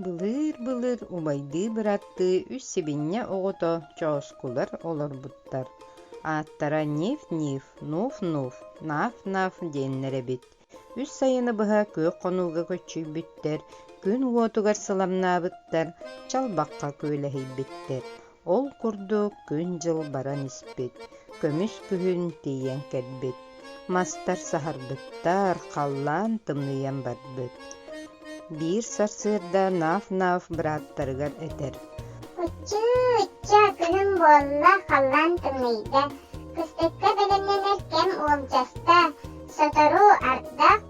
Былыыр-былыр убайдыы быраттыы үс сибинньэ оҕото чооскулар олорбуттар, ааттара Нив-Нив, Нуф-Нуф, Наф-Наф диэннэр эбит. Үс сайыны быһа күөх хонууга көччүйбүттэр, күн уотугар сыламнаабыттар, чалбахха күөлэһийбиттэр. Ол курдук күн-дьыл баран испит, көмүс күһүн тиийэн кэлбит, мастар саһарбыттар, халлаан тымныйан барбыт. Биир сарсыарда Наф-Наф бырааттарыгар этэр: «Аччыы, ычча, күнүм буолла, халлаан тымныйда. Кыстыкка бэлэмнэнэр кэм уолдьаста, сотору ардах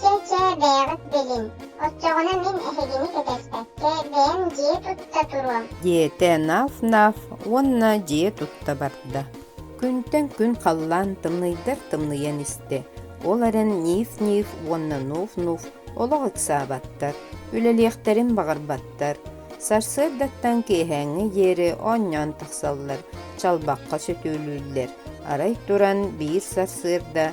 Чэ-чэ, бэйэҕит билиҥ. Оччоҕуна мин эһигини кэтэспэккэ бэйэм дьиэ тутта туруом. Диэтэ Наф-Наф уонна дьиэ тутта барда. Күнтэн күн халлаан тымныйдар тымныйан истэ. Ол эрэн Ниф-Ниф уонна Нуф-Нуф олох ыксаабаттар, үлэлиэхтэрин баҕарбаттар. Сарсыардаттан киэһээҥҥи диэри оонньоон тахсаллар, чалбахха сөтүөлүүллэр. Арай туран биир сарсыарда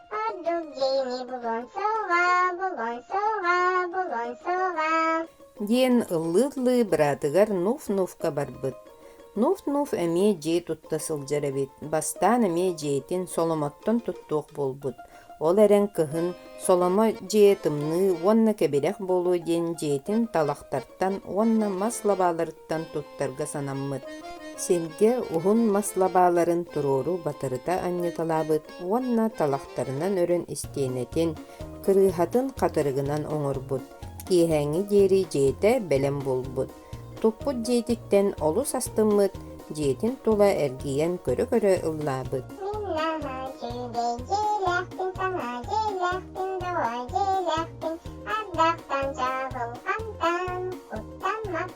диэн ыллыы-ыллыы быраатыгар Нуф-Нуфка барбыт. Нуф-Нуф эмиэ дьиэ тутта сылдьар эбит. Бастаан эмиэ дьиэтин Соломоттон туттуох буолбут. Ол эрэн кыһын Соломо дьиэ тымныы уонна кэбирэх буолуо диэн дьиэтин талахтартан уонна мас лабааларыттан туттарга санаммыт. Сиргэ уһун мас лабааларын туруору батырыта анньыталаабыт, уонна талахтарынан өрөн истиэнэтин, кырыыһатын хатырыгынан оҥорбут, киэһээҥҥи диэри дьиэтэ бэлэм буолбут, туппут дьиэтиттэн олус астыммыт, дьиэтин тула эргийэн көрө-көрө ыллаабыт. Дьиэлээхпин, дьиэлээхпин, саҥа дьиэлээхпин, доҕо дьиэлээхпин, ардахтан, чаабылхантан, куттан,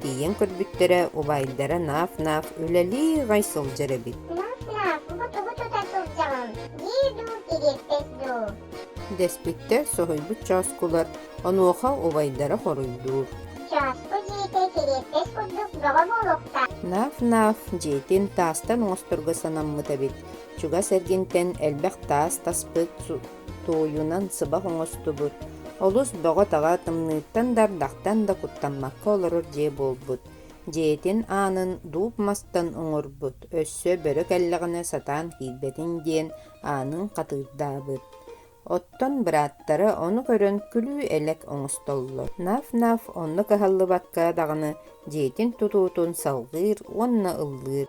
Тиийэн көрбүттэрэ, убайдара наав-наав үлэлии ҕай сылдьар эбит. Дэспиттэр соһуйбут чооскулар, онуоха убайдара хоруйдуур. Чооску дьиэтэ сириэппэс курдук бөҕө буолуохтаах. Наав-наав дьиэтин таастан оҥосторго санаммыт эбит. Чугас эргинтэн элбэх таас таспыт туойунан сыбах оҥостубут, олус бөҕө-таҕа тымныыттан да ардахтан да куттаммакка олорор дьиэ буолбут. Дьиэтин аанын дууп мастан оҥорбут, өссө бөрө кэллэҕинэ сатаан киирбэтин диэн аанын хатыырдаабыт. Оттон бырааттара ону көрөн күлүү-элэк оҥостоллор. Наф-наф онно кыһаллыбакка даҕаны дьиэтин тутуутун салҕыыр уонна ыллыыр.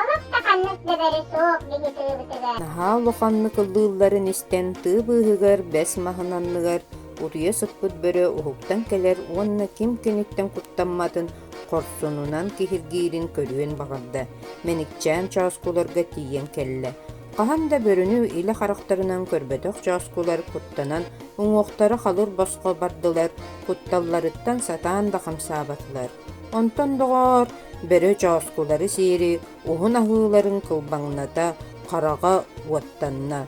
Олус да ханнык да бөрө суох дьиги тыыбытыгар. Наһаа улаханнык ыллыылларын истэн тыы быыһыгар бэс маһын анныгар уруйа сыппыт бөрө уһуктан кэлэр уонна ким киниттэн куттамматын хорсунунан киһиргиирин көрүөн баҕарда, мэникчээн чооскуларга тиийэн кэллэ. Хаһан да бөрөнү илэ харахтарынан көрбөтөх чооскулар куттанан уҥуохтара халыр босхо бардылар, кутталларыттан сатаан да хамсаабатылар. Онтон доҕоор, бөрө чооскулары сиэри уһун аһыыларын кылбаҥната, хараҕа уоттанна.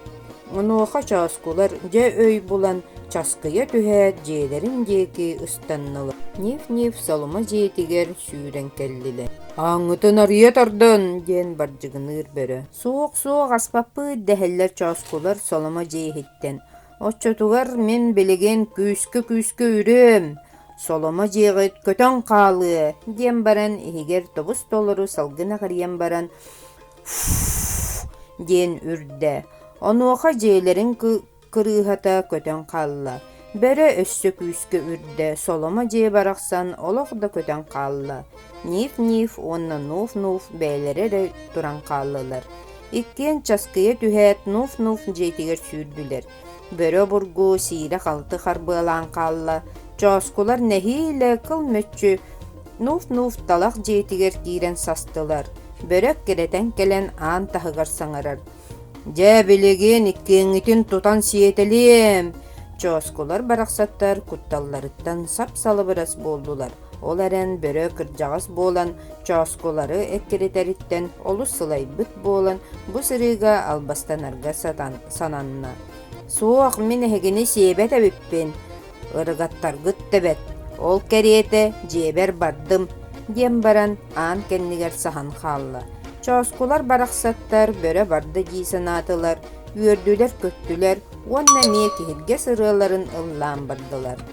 Онуоха чооскулар дьэ өй булан часкыйа түһээт дьиэлэрин диэки ыстаннылар. Нив-нив соломо дьиэтигэр сүүрэн кэллилэр. «Ааҥҥытын арыйа тардын!» диэн бардьыгыныыр бөрө. «Суох-суох аспаппыт!» дэһэллэр чооскулар соломо дьиэһиттэн. Оччотугар мин билигин күүскэ-күүскэ үрүөм, соломо дьиэҕит көтөн хаалыа, диэн баран иһигэр тобус-толору салгын аҕырыйан баран «фу» диэн үрдэ. Онуоха дьиэлэрин кырыыһата көтөн хаалла. Бөрө өссө күүскэ үрдэ, соломо дьиэ барахсан олох да көтөн хаалла. Нив-нив уонна нуф-нуф бэйэлэрэ эрэ туран хааллылар. Иккиэн часкыйа түһээт, нуф-нуф дьиэтигэр сүүрдүлэр. Бөрө обургу сиирэ-халты харбыалаан хаалла, чооскулар нэһиилэ кыл мүччү нуф-нуф талах дьиэтигэр киирэн састылар. Бөрө эккирэтэн кэлэн аан таһыгар саҥарар. «Дьэ, билигин иккиэҥҥитин тутан сиэтэлиэм!» Чооскулар барахсаттар кутталларыттан сап-салыбырас буоллулар. Ол эрэн бөрө кырдьаҕас буолан чооскулары эккиритэриттэн олус сылайбыт буолан бу сырыыга албастанарга сатан сананна. «Суох, мин эһигини сиэбэт эбиппин, ырыгаттаргыт тэбэт, ол кэриэтэ дьиэбэр бардым», диэн баран аан кэннигэр саһан хаалла. Чооскулар барахсаттар бөрө барда дии санаатылар, үөрдүлэр-көттүлэр уонна эмиэ киһиргэс ырыаларын ыллаан бардылар.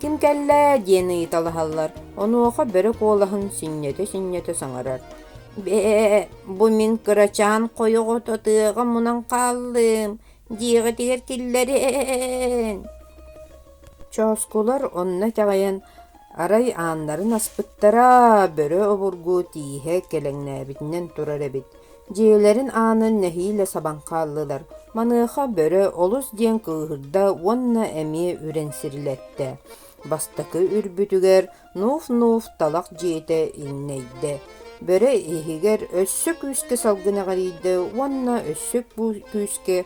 Ким кэллэ диэн ыйыталаһаллар, онуоха бөрө куолаһын сүнньэтэ-сүнньэтэ саҥарар. «Бээ, бу мин кырачаан хойоҕот атыаҕа мунан хааллым» диэҕитигэр киллэрэн Чооскулар онно итэҕэйэн, арай ааннарын аспыттара, бөрө обургу тииһэ кэлэҥнээбитинэн турар эбит Дьиэлэрин аанын нэһиилэ сабан хааллылар. Маныаха бөрө олус диэн кыыһырда уонна эмиэ үрэн сирилэттэ. Бастакы үрбүтүгэр нууф-нууф талах дьиэтэ иҥнэйдэ. Бөрө иһигэр өссө күүскэ салгын эҕирийдэ уонна өссө бу күүскэ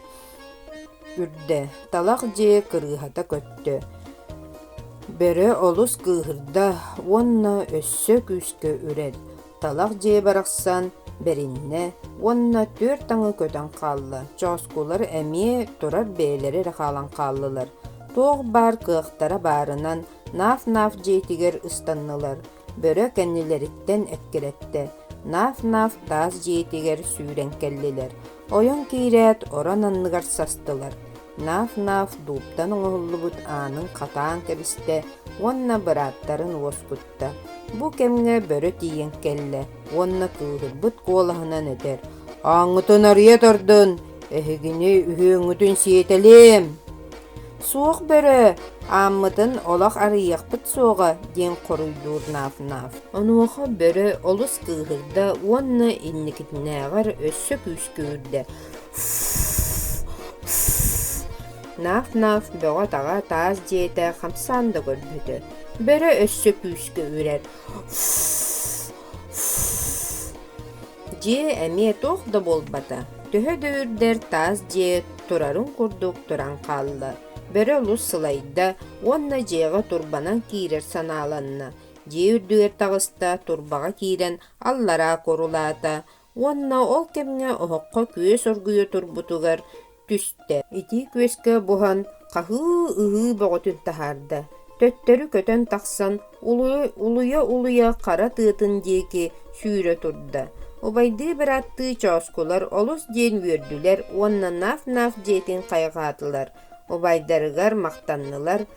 үрдэ. Талах дьиэ кырыыһата көттө. Бөрө олус кыыһырда уонна өссө күүскэ үрэр. талах дьиэ барахсан бэриннэ уонна түөрт аҥы көтөн хаалла. Чооскулар эмиэ турар бэйэлэрэ эрэ хаалан хааллылар. Туох баар кыахтара баарынан наaf-наaf дьиэтигэр ыстаннылар. Бөрө кэннилэриттэн эккирэттэ. Наaf-наaf таас дьиэтигэр сүүрэн кэллилэр. Ойон киирээт орон анныгар састылар. Наaf-наaf дууптан оҥоһуллубут аанын хатаан кэбистэ уонна бырааттарын уоскутта. тутта, бу кэмҥэ бөрө тиийэн кэллэ уонна кыыһырбыт куолаһынан этэр: «Ааҥҥытын арыйа турдун, эһигини үһүөҥҥүтүн сиэтэлиим!» «Суох бөрө, ааммытын олох арыйыахпыт суоҕа», диэн хоруйдуур Нафнаф. Онуоха бөрө олус кыыһырда уонна инникитинээҕэр өссө күүскүүрдэ. Наф-наф бөҕө-таҕа таас дьиэтэ хамсаан да көрбөтө, бөрө өссө күүскэ үрэр дьиэ эмиэ туох да буолбата, төһө да үрдэр таас дьиэ турарын курдук туран хаалла, бөрө олус сылайда уонна дьиэҕэ турбанан киирэр санааланна, дьиэ үрдүгэр таҕыста, турбаҕа киирэн аллараа курулаата, уонна ол кэмҥэ олоххо күөс оргуйа турбутугар түстэ. Итии күөскэ буһан хаһыы-ыһыы бөҕөтүн таһаарда. Төттөрү көтөн тахсан, улуйа-улуйа хара тыатын диэки сүүрэ турда. Убайдыы бырааттыы чооскулар олус диэн үөрдүлэр уонна наaf-наaf дьиэтин хайҕаатылар, убайдарыгар махтаннылар,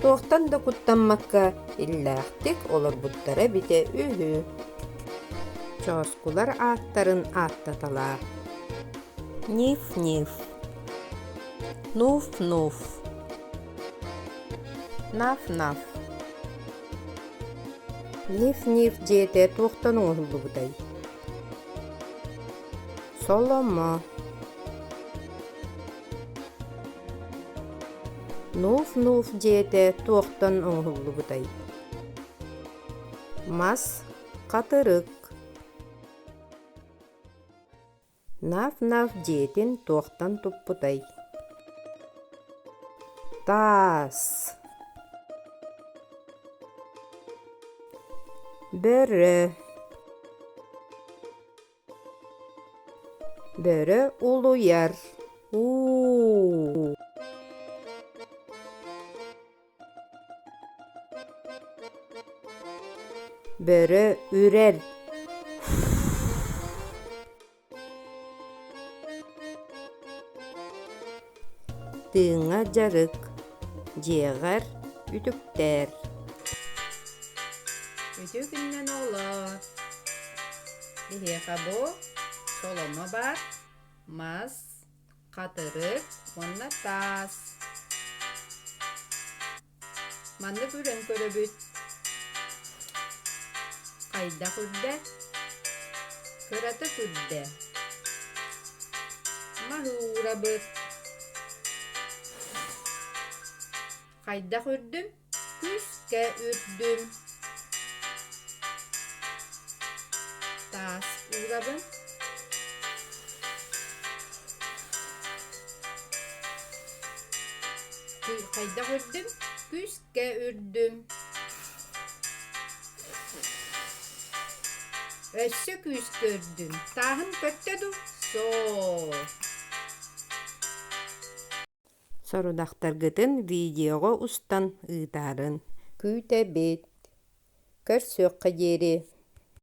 Туохтан да куттаммакка иллээхтик олорбуттара эбитэ үһү. Чооскулар ааттарын ааттаталаах. Ниф-ниф. Нуф-нуф. Наф-наф. Ниф-ниф дьиэтэ туохтан оҥоһуллубутай? Соломо. Нуuf-нуuf дьиэтэ туохтан оҥоһуллубутай? Мас хатырык. Наф-наф дьиэтин туохтан туппутай? Таас. Бөрө. Бөрө улуйар. Бөрө үрэр. Тыыҥа дьарык, дьиэҕэр үтүктэр. Үтүкүннэн олор. Биһиэхэ бу соломо бар, мас, хатырык уонна таас. Маннык үлэн көрөбүт хайдах үрдэ, кыратык үрдэ, маһыырабыт. Хайдах үрдүм? Күүскэ үрдүм. Таас уурабын. Хайдах үрдүм? Күүскэ үрдүм. Өссө күүскэ үрдүм. Тааһын көттө дуу? Суох. Сорудахтаргытын видеоҕа устан ыытарын. Күүтэбит. Көрсүөххэ диэри.